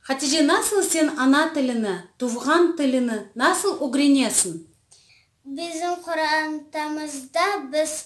Hatice, nasıl sen ana tilini, tuvğan tilini nasıl ögrenesiñ? Bizim qorantamızda biz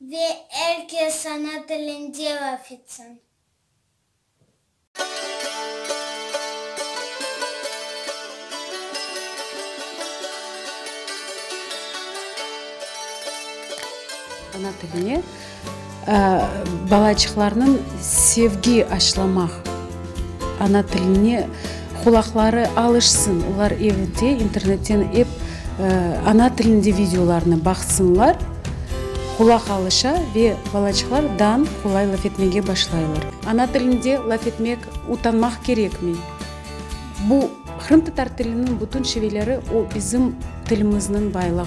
Ve er kes ana tilinde laf etsin. Ana tiline balaçıqlarnıñ sevgi aşılamaq. Ana tiline qulaqları alışsın, olar evde internetten ep ana tilinde videolarnı baqsınlar, qulaq alışa ve balaçıqlar dan qolay laf etmege başlaylar. Ana tilinde laf etmek utanmaq kerekmey. Bu, qırımtatar tiliniñ bütün şiveleri, o bizim tilimizniñ baylığı.